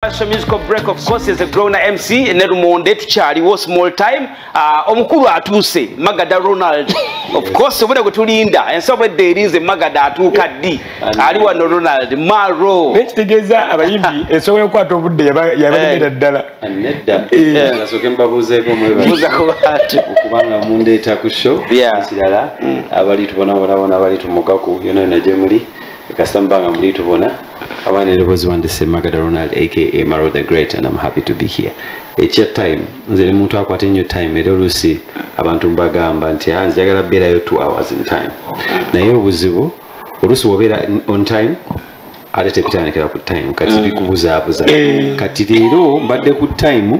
Asha musical break of course is a grown MC ne lumonde tukyaliwo small time uh, omukulu atuuse magada ronald of course obona gwe tulinda ensobo edda erinze magada atuuka ddi ali wano ronald maro naye kitegeeza abayimbi ensobo yokukwata obudde yabalemera eh. ddala nedda eh. eh, nasoke mbabuuzeeko mwebakubanga mundeeta ku show ekirala mm. abali tubonabonabona abali tumugaku yona yona gye muli kasita mubanga muli tubona abaana erobozi wange semagada ronald aka maro the great and am happy to be here ekya time nze ne muntu akwata ennyo time era oluusi abantu mbagamba nti ah, njagala beerayo two hours in time naye obuzibu oluusi wobeera on time ate tebitandikira ku time kati mm. bikubuzaabuza eh. kati leero mbadde ku time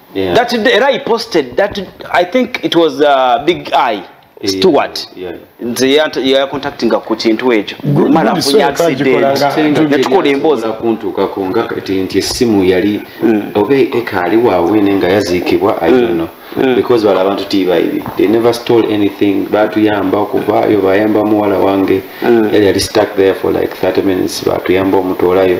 Yeah. That day, I posted that I think it was uh, Big Eye Stewart. Yeah. Nze ya contacting ku kintu ekyo. Mara kunya accident. Natukola emboza kuntuka ku nga kati nti simu yali mm. obe ekali wa wene nga yazikibwa I don't mm. know. Mm. Because wala abantu tiba ibi. They never stole anything. Batu yamba okuva yo bayamba muwala wange. Mm. Yali stuck there for like 30 minutes. Batu yamba omutolayo.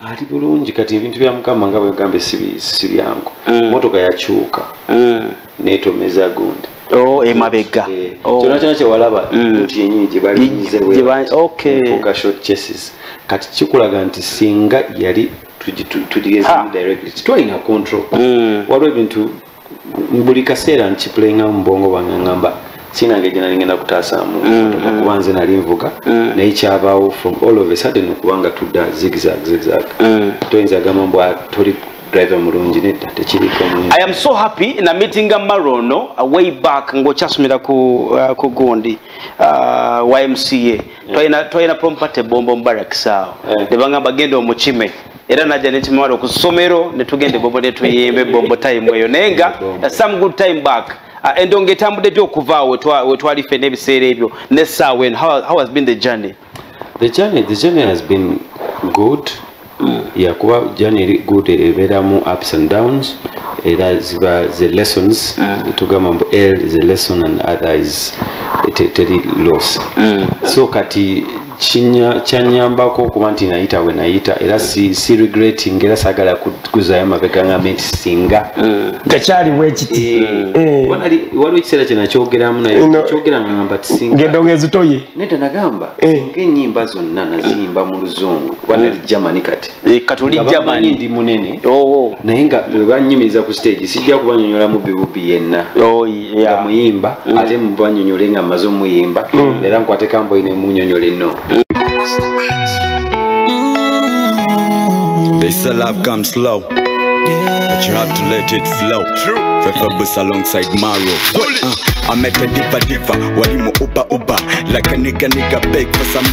ali bulungi kati ebintu bya mukama nga bwegambye si byangu mm. motoka yakyuka mm. netomeza gundi oh, emabega eh, oh. kyona kyona kyewalaba mm. nti yenyini gyebalinzeweases kati kikulaga nti singa yali tugigezimu directly titwalina control waliwo ebintu buli kaseera nkipulenga mu bwongo bwange ngamba sinange gye nali ngenda kutaasaamu mm, mm. kuba nze nali nvuga mm. naye kyabaawo from all of a sudden okubanga tudda zigzag zigzag toyinza gamba mbwa toli driver mulungi nedda tekiriko i am so happy na meetinga marono uh, way back ng'okyasomera ku uh, gundi uh, ymca twalina prompate bombo mubarakisaawo eh. nebagamba genda omukime era najja nekimawala okusomero netugenda ebombo netuyimba ebombo time eyo naye nga some good time back ah, endonga etambudde dy okuvaawo wetwali ffe n'ebiseera ebyo nesaawa eno how has been the journey the journey the journey has been good mm. ya kuba jani eri good ebeeramu ups and downs era ziba ze lessons mm. tugamba mbu l is a lesson and other is teri loss mm. so kati kyanyambako okuba nti nayita we nayita era si, si regretting era sagala kuzayo mabega ngambe nti singa mm. tekyaliwo ekiti eh, eh. waliwo ekiseera kye nakyogeramu nayekyogera ngamba tisinga ngendonga ezitoye neda nagamba eh. ngaenyimba zonna naziyimba mu luzungu wanali mm. germany kati eh, kati oli germany ndi munene oh. naye nga bwebanyumiriza ku stage sijja kubanyonyola mubbi bubbi yenna oh, nga muyimba mm. ate mubanyonyole nga maze omuyimba mm. era nkwatekamboyi nemunyonyole no They say love comes slow, but you have to let it flow. True. Fefebus alongside Maro. Uh, I met a diva diva, walimu uba uba, like a nigga nigga beg for some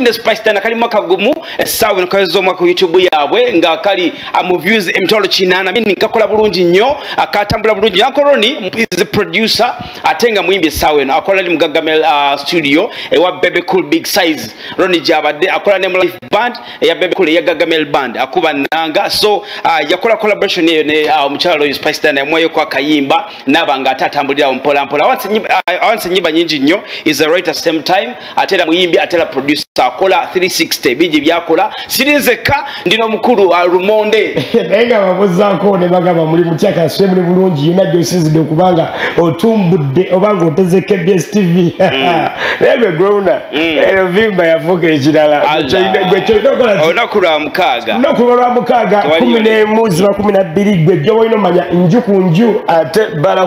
ne spice tana kali mwaka gumu esawa eh, nkazo zo mwaka youtube yabwe nga kali am ah, views emtolo eh, chinana mimi nkakola bulungi nyo akatambula ah, bulungi yanko roni is a producer atenga mwimbi esawa no akola ni mgagame uh, ah, studio ewa bebe cool big size roni jabade akola ne life band ya bebe cool ya gagame band akuba nanga so uh, yakola collaboration ne, ne uh, mchalo yo spice tana mwayo kwa kayimba nabanga atatambulira mpola mpola awansi nyiba, uh, awansi nyiba nyingi nyo is a right at same time atera muyimbi atera producer akola 360 biji byakola sirinzeka ndino mukulu wa rumonde naye nga babuzako ne bagamba muli mutyaka swe muli bulungi yina gyosizidde okubanga otumbudde oba nga oteze kbs tv mm. naye gwewuna mm. erovimba yafuuka ekirala olunaku lwa mukaaga olunaku lwa mukaaga kumi n'emu ziba kumi na bbiri gwe gyoba olina omanya nju ku nju ate bala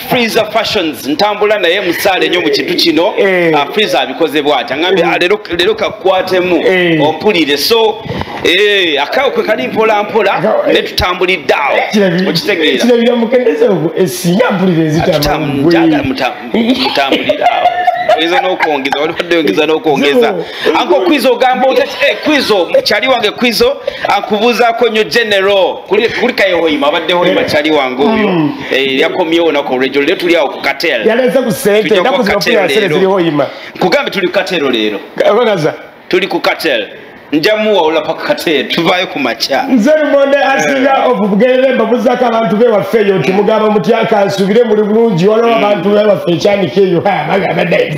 freezer fashions ntambula naye musaale nyo mu kintu kino eh. ah, freezer abikoze bwati angambye ah, lero kakwatemu eh. ompulire so eh, akawo kwe kali mpola mpola ne tutambulidde awo okitegeerakirabira mukendeeza ogwo esinga mpulire ezitamutambulira awo oyinza n'okwongeza waliwadde oyongeza n'okwongeza anko kwizo ogamba otya eh, kwizo mukyali wange kwizo akubuuzaako nnyo genero kulika yehoima abadde hoima eh. kyali wange oyo mm. eh, yakomyewo naku olwegyo lero tuli awo kukatelkugambe tuli kukatero leero tuli ku katel njamuwa olapa kukatero tuvayo ku makya nze lumonde asinga obugerera embabuzako abantu bewaffe eyo nti mugamba mutya kansubire muli bulungi waliwo abantu bewaffe ekyanika eyo bagamba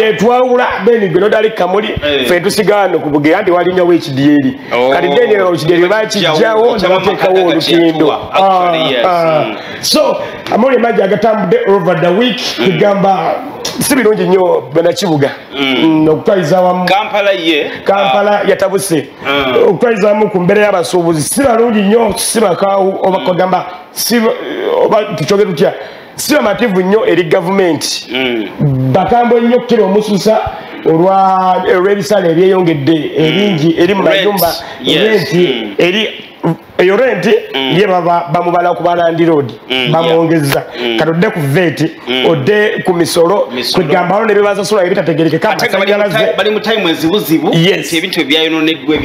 yetwawula beni gwe nodali kamuli eh. fe tusigaano ku bugera nti walinyawo ekidyeri oh. kati deni ekidyeri bakijjawo nebatekawo olutindo ah, ah. mm. so amawuli emajja agatambudde over the week egamba mm. si birungi nnyo banakibuga mm. mm, okutwaliza wamu kampala ye kampala ah. yatabuse mm. okutwaliza wamu ku mbeera y'abasuubuzi si balungi nnyo si bakaawu oba kagamba oba tukyogere tutya si bamativu nnyo eri gavumenti hmm. bakambwe nnyo kukira omususa olw'ebisala ebyeyongedde hmm. ebingi eri mu mayumba renti hmm. eri eyo renti ye bamubala ku balandiroodi bamwongeza kati odde ku veti odde ku misolo kwegambalo nebibasasula ebitategerekeka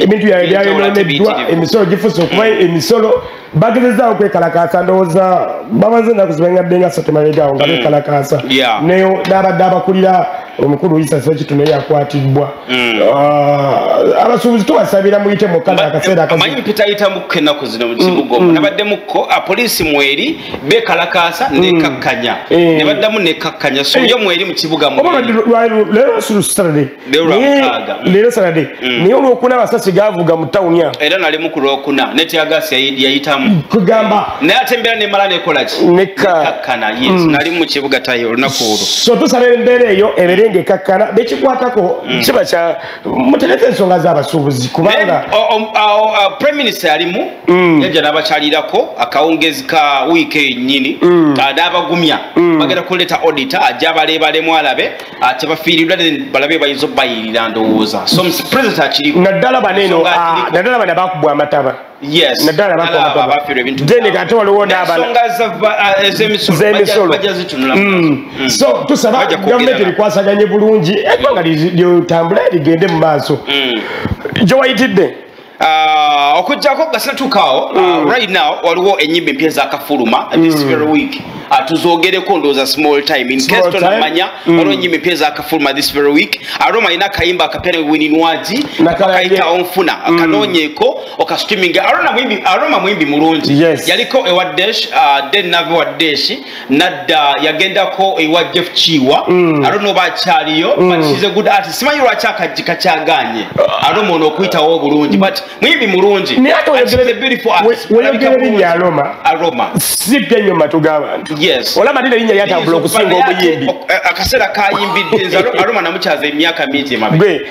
ebintu byayononeddwa emisolo gifusa okuba emisolo bagezezaako kwekalakaasa ndowooza bamaze enaku zibangadde nga satemabegaawo nga mm. bekalakaasa naye n'abadde abakulira omukulu isa sekitu naye yakwatibbwa mm. ah, abasuubuzi tubasabira muyite mukana akaseera akamanyi mpitayitamukko enaku zino mu kibuga omu mm, nabaddemukko ah, poliisi mweri bekalakaasa nekakkanya eh. ne baddamu nekakkanya soyo eh. mweri mu kibuga mweri leero sanade mm. naye olwokuna abasasi gavuga mu tawuni awo era nalimu ku lwokuna netyagasi yayitamu kugamba naye ate embeera nemala nekolaki nekakkana yes mm. nali mu kibuga tayi olunaku olwo so tusaba embeera eyo ebeere nga ekakkana bekikwatako mm. kiba kya mutereka ensonga z'abasuubuzi kubanga prime minister yalimu yajja n'abakyalirako akawungezi ka wiiki enyini n'abagumya bagenda kuleeta odita ajja abaleebalemu alabe ate bafiiridwa balabe bayinza obayirira ndowooza so president akiri naddala baneeno ah, naddala bana bakubwa amataba naddala bakubamataba ate waliwo n'abanaemisolo ah, mm. mm. so tusaba gavumenti erikwasaganye bulungi eggwanga lyotambula ligende mu maaso mm. gyewayitidde Ah, okujjako nga sinatuukaawo ah, mm. right now waliwo enyimba empya ezakafuluma mm. this very week ah, tuzogereko ndowooza small time inkestoamanya mm. waliwo enyimba empya ezakafuluma this very week aroma alina akayimba akapya newininwagi akayita onfuna kanoonyeko okastreaming aroma muyimbi mulungi yaliko ewa desh den nave wa deshi nadda yagendako ewa jeff kiwa mm. ate noba akyaliyo mm. simanyi lwaki akajji kakyaganye ate mwono okuyitawo obulungi but muyimbi mulungiweyogerebinyaroma si byenyo matu gabantu olaba nina linya lyatambula okusinga obuyimbi eh, akaseera kayimbidde nze aroma namukyaza emyaka mingi emabegwe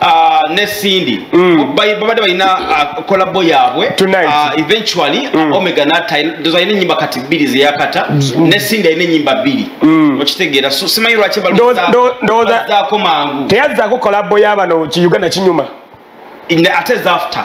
Ah, ne Cindy mm. babadde balina kolabo ah, yaabwe ah, eventually mm. omega natadoza alina enyimba kati bbiri zeyakata mm. ne Cindy alina enyimba bbiri okitegeera simanyi lwaki balzaako mangu teyazzaako kolabo yabano ki uganda kinyuma ate zafter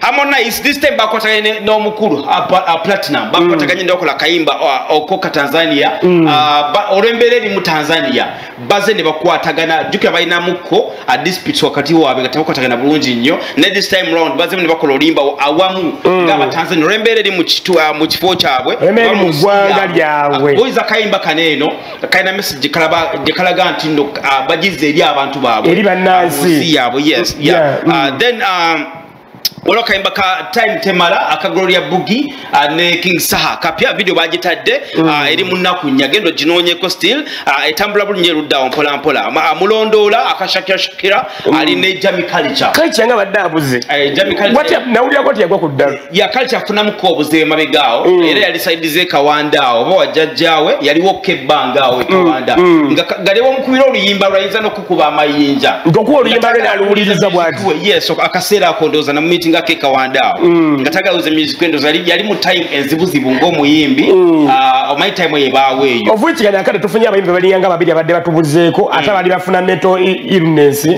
harmonize this time bakwataganye n'omukulu uh, platinum bakwataganye mm. nokola kayimba uh, okoka tanzania mm. uh, olwembeera eri mu tanzania baze ne bakwatagana jukira balinamuko adispit wakati waabwe nga tebakwatagana bulungi nnyo ne this time round bazemu ne bakola olimba awamu mm. nga abatanzania olwembeera eri mu kifo kyabwe mugwanga lyabwe oyiza kayimba kano eno kalina message gyekalaga nti no bagize eri abantu baabwe eri bannansi yaabwe yes yeah. yeah. uh, then um, waliwo akayimba ka time temala aka gloria bugi uh, ne king saha kapya video bagitadde uh, mm. eri munaku nya genda oginoonyeko still uh, etambula bulungi eruddawo mpolampola mulondoola akashakira shakira mm. ali ne jami kalica kalica nga badde abuze nawulirako tiyagwa ku ddalu ya kalica afunamuko obuze emabegaawo mm. era yali saidize kawandaawo oba wajjajjaawe yaliwo kebbangaawo ekawanda nga galiwo mukubira oluyimba lwayinza kuba amayinja nkokuwa oluyimba lwe naluwuliriza bwati yes akaseera ako ndowooza na mumiiti nga kekawanda awo mm. nga tagaluza music endowooza yali mu time enzibuzibu ng'omuyimbi mm. ah, omanyi time eyo ebaawo eyo ovuikigana akade tufunye abayimbi baliya nga babiri abadde batubuzeeko mm. ate abali bafuna meto illness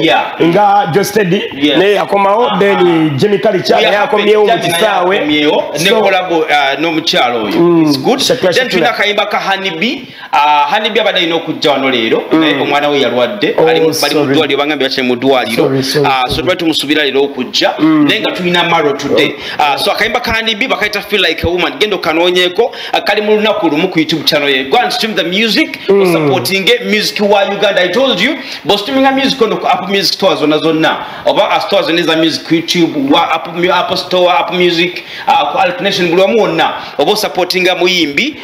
nga jostedi naye yakomawo ah. then jimmy kalica naye akomyewo mu kisaawe ah, n'omukyalo oyo tulina akayimba ka hanibi Ah, hanibbi abadde alina okujja wano leero mm. naye omwana we yalwadde oh, bali mu ddwaliro bagambye bakiri mu ddwaliro ah, so twali tumusubira leero okujja mm. naye nga tulina maro today oh. ah, so akayimba ka hanibbi bakayita feel like a woman genda okanoonyeeko kali mu lunaku lumu ku youtube channel ye go and stream the music mm. osupportinge music wa uganda i told you bostreaminga music ono ku apple music store zonna zonna oba astore zonna eza music youtube wa apple store apple music ku alternation buli wamu wonna oba osupportinga muyimbi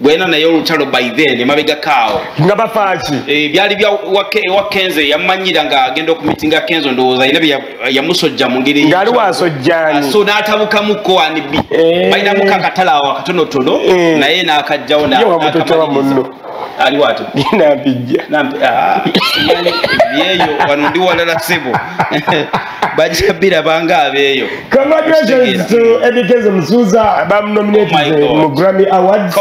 gwena naye olutalo by then emabega kaawo nga bafaaki e, byali bya ewa kenzo yamanyira nga agenda okumitinga kenzo ndowooza yina yamusojja mu ngeri ngaali wasojjani so n'atabukamuko wanibi eh. balinamuko akatala awo akatonotono eh. naye n'akajjawo nakamaliriza ali watu nampijja nampijja ah, yeyo wano ndi walala sebo bajja biraba nga abeeyo congratulations to ebigeze musuuza bamunominated oh mu grammy awards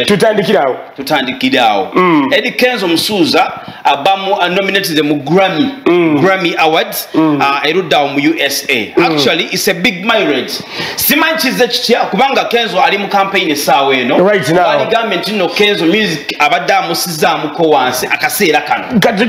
tutandikiraawo tutandikiraawo mm. edi kenzo musuuza abamu uh, nominated mu grammy mm. grammy awards mm. uh, eruddawo mu usa actually it's a big marriage simanyi kizze kitya kubanga kenzo ali mu kampeyini essaawa eno aligambye nti no kenzo music abadde amusizamuko wansi akaseera kanoobadde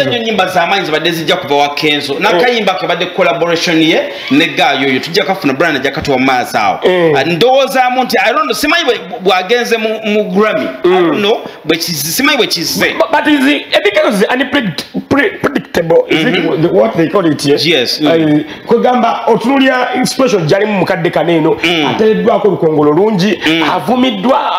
nyo nyimba zamaanyi zibadde zijja kuva wa kenzo nakayimba oh. kebadde collaboration ye ne gaayo oyo tujja kafuna brana ajja katuwa mu maazi awo oh. ah, ndowoozaamu nti simanyi bwagenze mu grammy mm. bwekizi simanyi bwekize but is because is unpredictable is it mm-hmm. the, what they call it yes, yes. Mm. kwegamba otunulira special jalimu mukadde kano eno mm. atereddwako olukongolo lungi mm. avumiddwa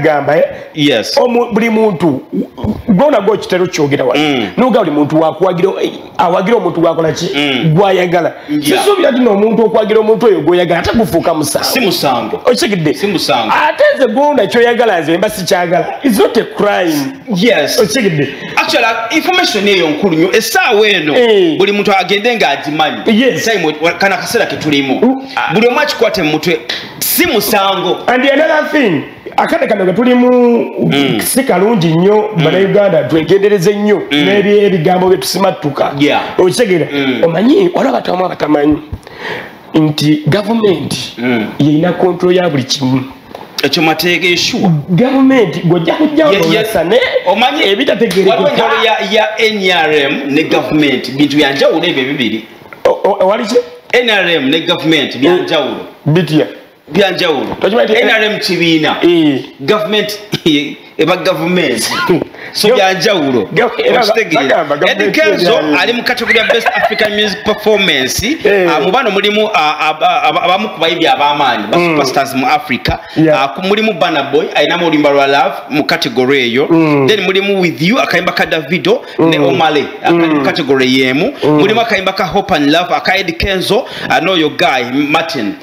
gamba eh? yes. buli muntu gwona gokitera okyogera wa mm. noga buli muntu wakuwagira awagira omuntu gwakola ki mm. gwayagala sisuubira ti noomuntu okwagira omuntu oyo gwoyagala ate gufuuka musango okitegedde ate nze gwona kyoyagala nze mba sikyagala is not a crime okitegedde information eyo nkulu nyo esaawa eno eh. buli muntu agende nga agimanyi kana kaseera ketulimu mm. buli omu akikwate mu mutwe si musango and another thing akade kano ketulimu mm. si kalungi nnyo mm. banauganda twegendereze nnyo mm. nebyebigambo byetusimattuka yeah. okitegeera mm. omanyi waliwo abatamu abatamanyi nti gavumenti mm. yeyina kontrol ya buli kimu ekyo mateeka eshuwa gavumenti gwojja kujjaoyasa ne omanyi ebitategerekawaliwo ya nrm ne gavumenti bintu byanjawulo ebyo bibiri owaliki nrm ne gavumenti byanjawulo bitya byanjawulo nrm kibiina eh. gavumenti eba gavumenti so byanjawulo okitegeera edi kenzo ali mu kategori ya best african music performance eh. ah, mu bano mulimu ah, ah, abamu ku bayimbi ab'amaanyi ba mm. superstars mu africa mulimu bana boy alinamu oluyimba lwa love mu kategori eyo mm. then mulimu with you akayimba ka davido mm. ne omale akali mu kategori y'emu mulimu akayimba ka hope and love aka edi kenzo n'oyo guy martin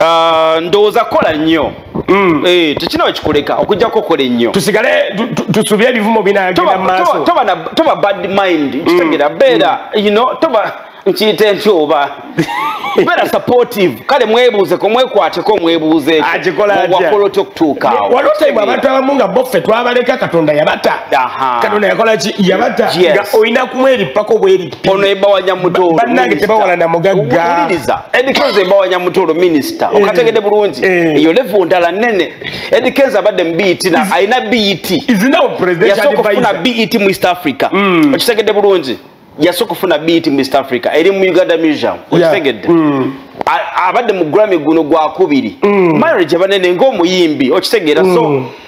Ah, ndowooza kola nnyo mm. eh, tekina wekikuleka okujjako okola ennyo tusigale tusubye ebivumo binagenda mumaaso toba bad mind mm. kitegera beera mm. you know toba nkiyite nti oba beera supportive kale mwebuuzeko mwekwateko mwebuuze wakola otya okutuukaawo waliwo time abantu abamu nga boffe twabaleka katonda yabata katonda yakola ki yabata nga olina kumweripako bweri ono ebawanya mutoolo bannange tebawalana mugagga edikenza ebawanya mutoolo minisita eh. okategede bulungi eh. eyo levu ndala nene edikenza abadde mu bet na alina bet yasooka okufuna bet mu east africa mm. okitegede bulungi yasooka okufuna bet mu east africa eri mu uganda museum okitegedde mm. abadde mu grammy guno gwakubiri mm. marriage abanene ngaomuyimbi okitegeera so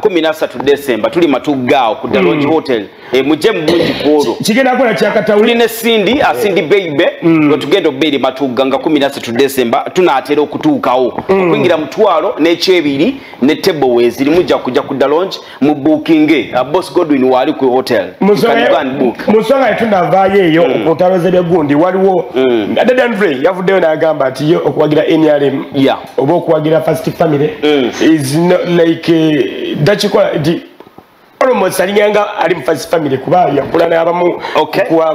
kumi nasatu desemba tuli matuggaawo ku dalongi mm. hotel e, mujje mubungi kwolwo tuli ne sindi asindi mm. beibe mm. nga tugenda okuba eri matugga nga kumi nasatu desemba tunaatera okutuukawo okuyingira mutwalo n'ekyebiri ne tebo weeziri mujja kujja ku dalongi mu bukinge uh, bos godwin waali ku hotel musonga yetunavaayo eyo okutaloza ebyegundi waliwo dadanvre yavuddeyo n'agamba nti ye okuwagira nrm oba okuwagira first family mm. is not like eh, dakikola nti almost alinganga ali mu first family kuba yakula n'abamu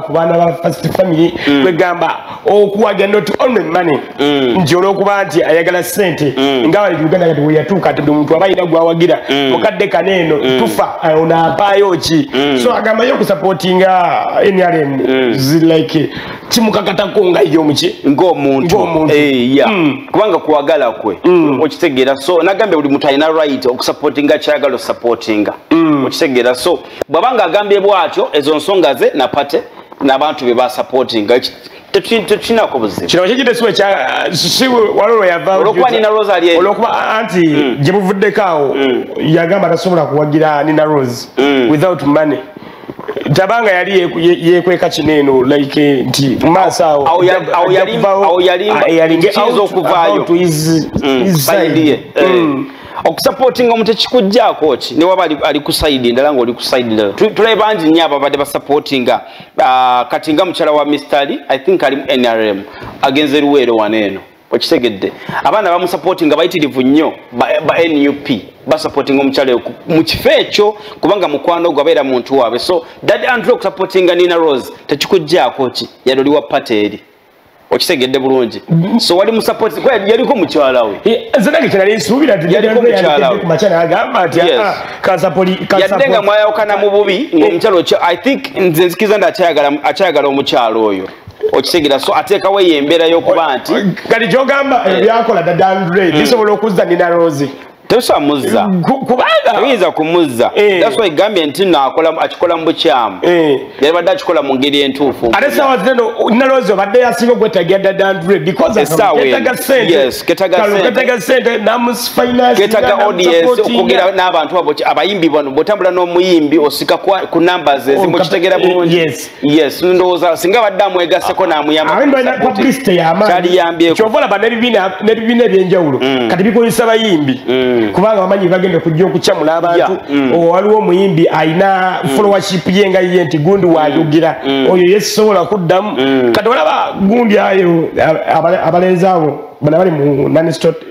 ku baana ba first family mm. kwegamba okuwagira not only money mm. nti olwokuba nti ayagala sente nga uganda kati weyatuuka ati buli muntu aba alina gwawagira mukadde kana eno tufa onaapaayo ki so agambayo okusapootinga nrm like kimukakatako nga ye omuki ng'omuntu eh, ya mm. kubanga kwagala kwe mm. okitegeera so nagambye buli muntu alina right okusupportinga kyayagala osupportinga mm. okitegeera so bwaba nga agambye bwatyo ezo nsonga ze napate n'abantu be basupportinga tetukinako buzibu kino kyekitesu ekyawalolo yavaolwokuba nina rose ali olwokuba anti gye buvuddeko awo yagamba tasobola kuwagira nina rose without money tabanga yali yekweka kino eno like nti maaso awo yalinga kiyinza okuvaayo okusapootinga omuntu ekikugjaako ki newaba ali ku saidi ndala ngaoli ku saidi ndala tulabe bangi nnyo ababadde basapootinga ah, kati nga mukyala wa mistali i think ali mu nrm agenze luweero wano eno okitegedde abaana bamusapoti nga bayitirivu nnyo ba nup basapotinga omukyala mu kifo ekyo kubanga mukwano ogwo abeera muntu waabwe so dad andrew okusapotinga nina rose tekikuggyako ki yali oliwa pate eri okitegedde bulungi so wali musapoti yaliko mukyala we eh, yadde nga mwayawukana mu bubi ngaomukyala i think nze nzikiriza nti akyayagala omukyala oyo okitegeera so ateekawo eyo embeera y'okuba nti kati kyogamba ebyakola dadandre hmm. bisobola okuzza nina rozi tebisobola muzza kubanga tebiyinza kumuzza eh. that's why gambye nti no akola akikola mu bukyamu eh. yali badde akikola mu ngeri entuufu ate sawa zino nalozi obadde yasinga okwetagira dadandre bcauseketaga sente namusfinansketaga audience okugera n'abantu abo abayimbi bano bwotambula n'omuyimbi osika ku numbers ezimu oh, kitegera eh, bulungi yes ndowooza singa abadde amwegaseko namuyambakyaliyambyekovolaba nebibiina ebyenjawulo mm. kati bikozesa bayimbi mm. kubanga bamanyi bagenda okujja okucamula abantu mm. waliwo omuyimbi alina folowaship ye nga ye nti gundi wayogera oyo yesisobola kuddamu kati olaba gundi ayo abalenzi abo bona bali mu nanistot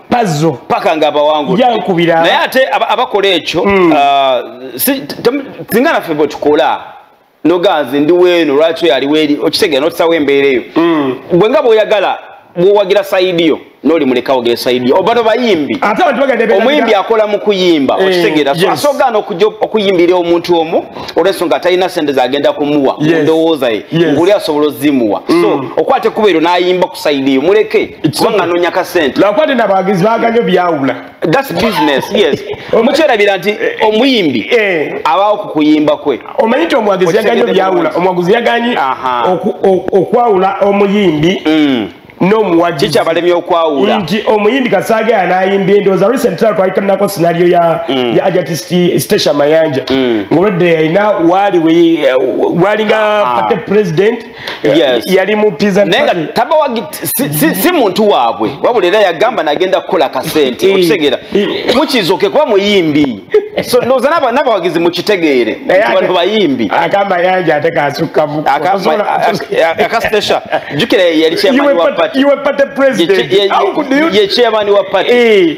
pazo paka nga abawangu yankubira naye ate abakola ekyo mm. uh, singa naffe bwe tukola noganzi ndi weeno lwaki yali weri okitegera notusawo embeera eyo mm. bwe nga bwoyagala bwowagira saidi yo noli muleka ogere saidi yo oba nobayimbi omuyimbi akola mu kuyimba eh, okitegera asogaana okuyimbira omuntu omu olwensonga atalina sente zagenda kumuwa mundowooza ye nguli asobola ozimuwa so mm. okwata ekkuba eryo nayimba ku saidi yo muleke kubanga nonya ka sente lwakuba tena abawagizi baganyo byawula thats business yes mukyerabira nti eh, omuyimbi eh. abaawo ku kuyimba kwe omanyi nti omuwagizi yaganyo byawula omuwagizi yaganyi okwawula omuyimbi mm. nomuwagikikyabalemi okwawula nti omuyimbi kasaaga yanayimba endooza recent tra twalikanako sinario ya mm. ajati station mayanja mm. ngolwedde yalina waali walinga ah. pate president yes. yali mu pizza naye nga taba wa si, si, si muntu waabwe wabula era yagamba nagenda kukola kasente eh. okitegeera eh. mukizoke kuba muyimbi so ndowooza n'abawagizi mukitegeere bantu bayimbi agamba yanja ate kasukkamu akasitesha jukira yali chairman wa party you were party president ye chairman wa party eh.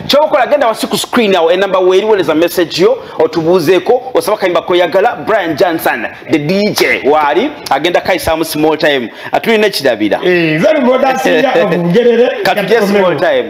kyokola genda wasi ku screen awo enamba weriweleza message yo otubuuzeeko osaba kayimba koyagala brian johnson the dj waali agenda kayisamu small time atulina ekirabira eh, katuje small time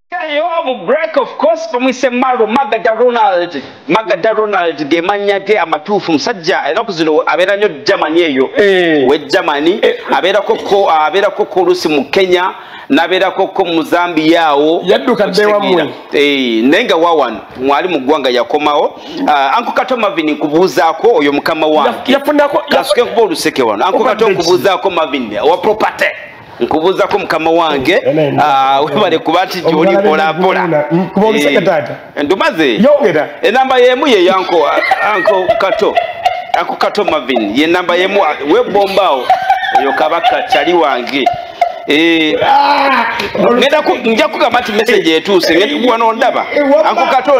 Kale Yoabu Grech of course bamuyise Maru Magada Ronald Magada Ronald ge mannya ge amatuufu musajja enaku zino abeera nnyo Germany eyo eh. we Germany eh. abeerako ko abeerako ko oluusi mu Kenya nabeerako ko mu Zambia awo yaddukadde wamwe eh, naye nga wawano mwali mu ggwanga yakomawo ah, anko kato Marvin nkubuuzaako oyo mukama wange yafunako kasuke nkuba oluseke wano anko kato nkubuuzaako Marvin owa property nkubuzako mukama wange ah, webale kuba nti gyoli mpolampola eh, ndumaze enamba yemu yeyanko anko kato anko kato mavin yenamba yemu webombaawo oyo kabaka kyali wange eh, ah, nja kugamba nti message etuuse wano ndaba eh, anko kato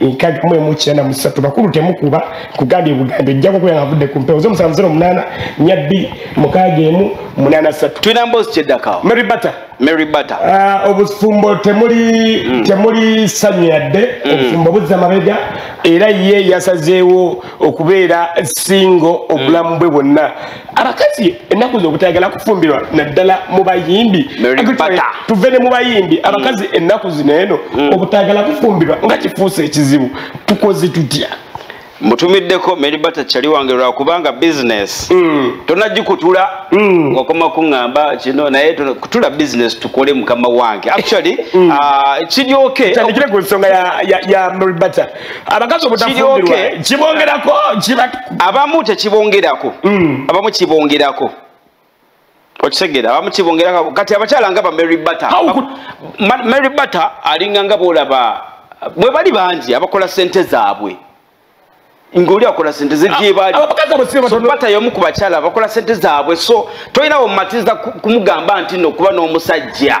nkadi mwe mukira na musatu bakulu temukuba kugambye bugambe jjako kuya ngavudde ku mpewo zomusanvu zero munana nyabbi mukaaga emu munana satu tulina mbozi kyeddakawo mary butter mary butter uh, obufumbo temuli mm. temuli sanyu yadde mm. obufumbo buzza mabega era ye yasazeewo okubeera singo obulamu bwe bwonna abakazi ennaku zo obutayagala kufumbirwa naddala mu bayimbi tuve ne mu bayimbi mm. abakazi ennaku zino eno mm. obutayagala kufumbirwa nga kifuusa ekizibu tukoze tutya mutumiddeko meribata kyali wange lwakubanga bizinesi mm. tonagikutula ngokoma kuŋamba kino naye kutula bizinesi tukole mukama wange actually kiryoke tandikire ku nsonga ya meribata abakazi obutafumbirwa kibongerako abamu tekibongerako mm. abamu kibongerako okitegera abamu kibongerako kati abakyala nga ba mary butter mary butter alinga nga boolaba bwe bali bangi abakola sente zaabwe ngoli akola sente zejebalibata yomu ku bakyala bakola sente zaabwe so tolinawo mumatiza kumugamba nti nokuba n'omusajja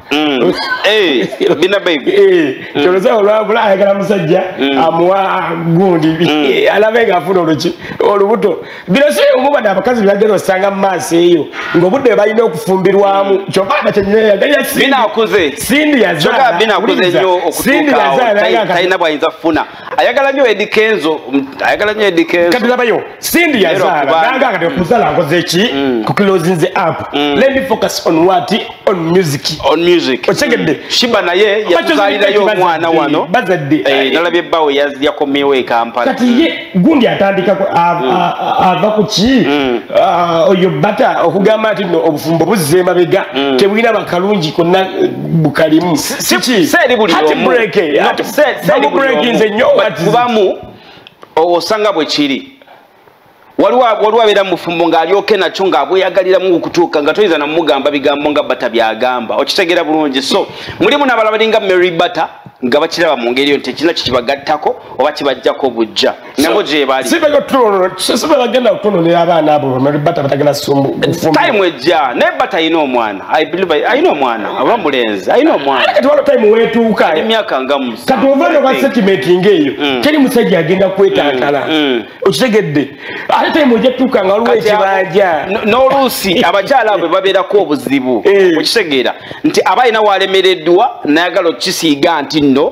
Mm. Eh, bina baby eh, mm. kyoloza olwabula ayagala musajja mm. amuwa gundi eh, alabe nga afuna oluki olubuto bino si omuba nabakazi byagenda osanga mumaaso eyo ngaobudde balina okufumbirwamu kyovanga kyenyeyagaliasindi yazaala bwayinza kufuna ayagala nyo edi kenzo ayagala nyo edi kenzo kati labayo sindi ya zara nanga kati kuzala ngoze ki mm. ku closing the app mm. let me focus on what on music on music ochegede mm. shiba na ye ya kuzalira yo mwana wano bazadde eh nalabye bawo ya ya komewe kampala kati ye mm. gundi atandika ko ava ku ki oyo bata okugamba ati no obufumbo buzema bega tebwina bakalungi konna bukalimu sikiatbrekinze nyo kubamu owo osanga bwe kiri waliwo abeera mufumbo ng'alyoke nakyo ng'abweyagaliramu okutuuka nga toyinza namugamba bigambo nga bata byagamba okitegeera bulungi so mulimu nabala balinga mary bata nga bakiraba mu ngeri yo nti ekirina kikibagattako oba kibajjako bujja nabo gyebali sibagenda kutononera abaana abo bata batagenda time ejja naye bata ayina omwana ayina omwana oba mulenzi ayina omwanakatiwalo time wetuuka emyaka nga kati ova noba setimenti ngaeyo mm. teri musajja agenda kwetantala mm, mm. okitegedde ate time ojja tuuka nga waliwo ekibanja n'oluusi abakyala abo babeerako obuzibu eh. okitegeera nti aba alina walemereddwa nayagala okukisiiga nti nno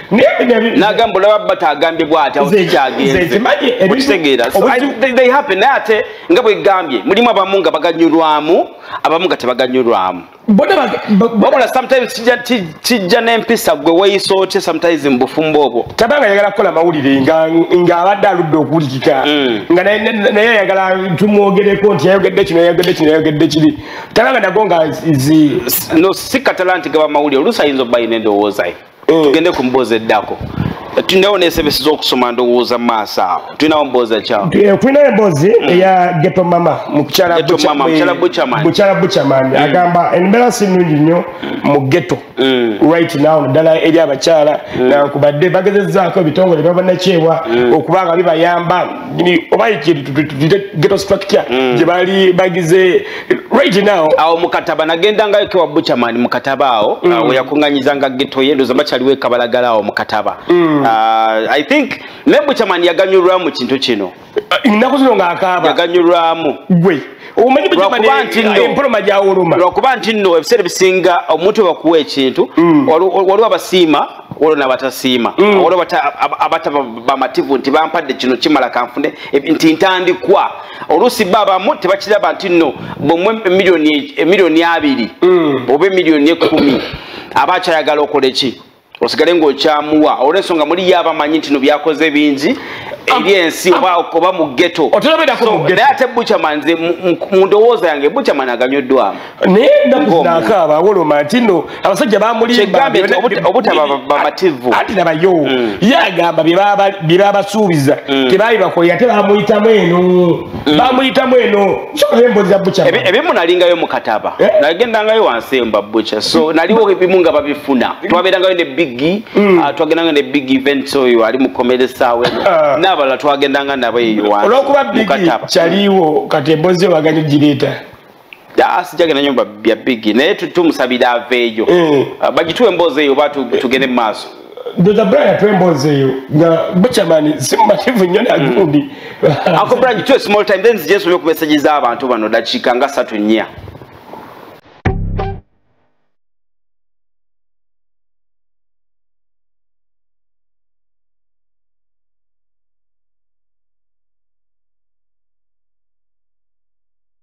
nagamba olaba bata agambye bwatyagenzeokitegeeranaye naye ate nga bwegambye mulimu abamu nga baganyulwamu abamu nga tebaganyulwamu wabula sometimes kijja nempisa gwe weyisa otya sometimes mubufumbo obwo taba nga yagala kukola mawulire ngaabadde aludde okuwulikika mm. nga naye ayagala tumwogereko nti yayogedde kino yayogedde kino yayogedde kiri taba nga nago nga si katala nti gaba mawulire oluusi ayinza okuba yina endowoozaye mm. tugende ku mboozi eddako tulinawo nesebesi zokusoma ndowooza maaso awo tulinawo mboozi ekyawo eh, tulinayo emboozi mm. eya geto mama mukyala buchaman mm. agamba embeera si nnungi nnyo mu geto mm. right now ddala eri abakyala nankubadde bagezezaako ebitongole byabanakyewa okuba nga bibayamba oba geto structure gyebali bagize right now awo mukataba nagenda nga yake wa butcherman mukataba awo mm. awo yakunganyiza nga ghetto ye ndoza bachali we kabalagala awo mukataba mm. uh, i think ne butcherman yaganyurwa mu kintu kino uh, nako zino nga akaba yaganyurwa mu gwe umanyi butcherman emporo maja uruma ro kuba ntino ebisere bisinga omuntu bakuwa ekintu mm. waliwo abasiima waliwo nabatasiima mm. waliwo abata abata bamativu nti bampadde kino kimala kanfune nti ntandikwa oluusi bo abamu tebakiraba nti nno bwemwe emiliyoni e, abiri mm. oba emiliyoni ekumi aba akyayagala okola eki osigale ngaokyamuwa olwensonga muli ye abamanyi nti no byakoze bingi eri ensi oba mu geto naye ate buchaman nze mu ndowooza yange buchaman aganyoddwamu naye nakuzinakaaba awoloma nti no abasajja bamulimbaobutaba anti nabayo mm. ye agamba byebabasuubiza mm. tebabibakolera ate bamuyitamu eno mm. bamuyitamu eno sokayo embozi za buca ebimu nalingayo mukataba eh? nagendangayo wansi eyo mbabuca so naliwo ebimu nga babifuna twaberangayo ne bigi ah, twagendangayo ne big events oyo ali mukomeresaawo ah. nabalala twagendanga nabo eyo wansi olwokuba bigi kyaliwo kati embozi yo bagani gireeta sijagenda nyo bya bigi naye tumusabira aveeyo eh. ah, bagituwa emboozi eyo oba tugende mu maaso ndoza brian atuwa emboozi eyo nga buchamani simumativu nyo nagundi mm. ako brian gituwa small time then zijensoma okumeseji z'abantu bano dakiika nga satu nnya